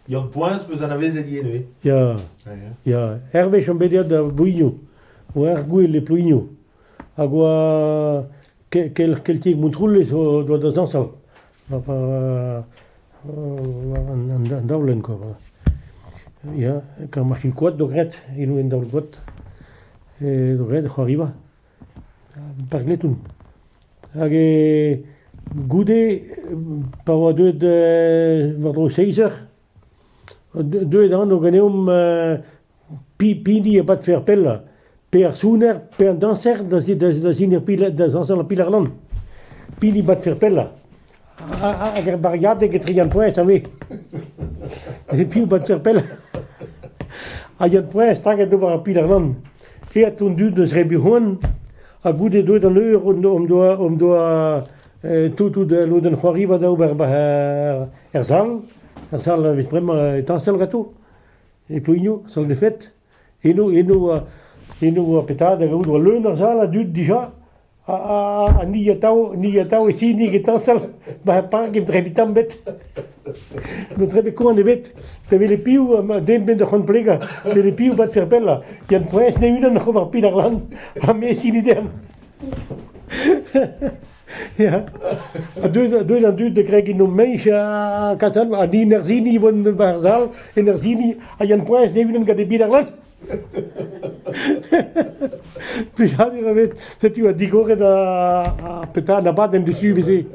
Yann-Poaz 'peus anavezet ivez neuze Ya, Ah, ya. ya. Hervez on bet deut da Blouigno, oa er gouel e Plouigno, hag oa ke- kel- keltiek Montroulez o doa da zañsal. an daolenn kwa voilà ya kar ma fin koad d'o gred eno en daol-goad d'o gred e c'hoariva park Letton hag goude pa oa deuet war-dro seizh eur deuet an o ganeomp pehini a badfe ar pellañ, pe ar sounner pe an dañser da sinañ da zañsal ar piler-lann, pehini badfe ar pellañ, hag er bariadeg etre Yann-Poez ha me. Neuze piv badfe ar pellañ? Ha Yann-Poez staget d'ober ar piler-lann. Aet an dud eus Rebihoan, ha goude deuet an eur hon doa hon doa tout al lodenn c'hoariva da ober er sal, er sal a vez bremañ tañsal ganto. E Plouigno, sant Efed, eno, eno, eno oa petra da gavout war leun ar sal a dud dija, ha, ha, ha ni atav, ni atav e sinig etañ sal ba ar park emañ trepitam bet. N'eus nemet koan ebet. Da welet piv, den benn da c'honplegañ, welet piv bat fer pellañ. Yann Poez ne unan oc'h ober pin ar lan, ha me sini den. Ya, ha deuet deuet an dud da kregiñ no meiz ha kasal an hin er sini vont war sal en er sini a yan poaz d'evinan gant e bid ar lat. Plijadur ebet, setu a digoret a a petra an abadenn du su veze.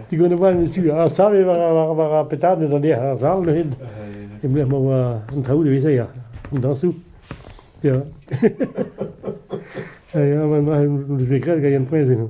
Digoret an abadenn du su a save war war war ar petra da deoc'h ar sal neuhet. Em lec'h ma oa an traoù da veze ya, an dañsoù. Ya. Ya, ya, ma ma ma me gred gant Yan Poaz eno.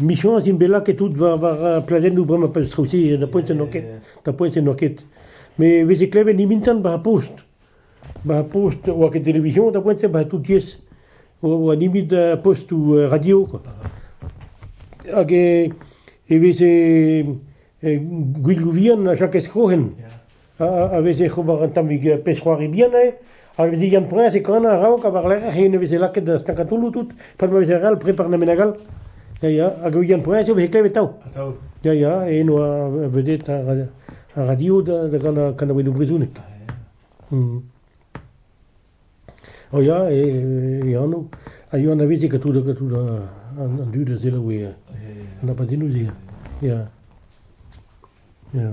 Michañs int bet lakaet tout war war pladennoù bremañ pleustr-se, na poent n'emañ ket, na poent n'emañ ket. Met e veze klevet nimintan war ar post, war ar post oa ket televizoñ da poent-se, war tout tiez, oa nemet postoù radio quoi. Hag e veze gwiloù vihan a chakes krohen. a veze ober un tammig pezh-c'hoari bihan eo, a veze Yann-Priñs e kanañ a-raok ha war-lerc'h yen e veze lakaet da stagañ taolloù tout, pad ma veze re all prepar na menag all. Ya ya, hag Yann-Priñs e veze klevet atav. Atav. Ya ya, e eno vedette ar radio da ganañ kanaouennoù brezhoneg. Hmm. O ya, e anv. A yoa anavezet gant tout an dud a selaou an abadennoù-se. Ya. Ya.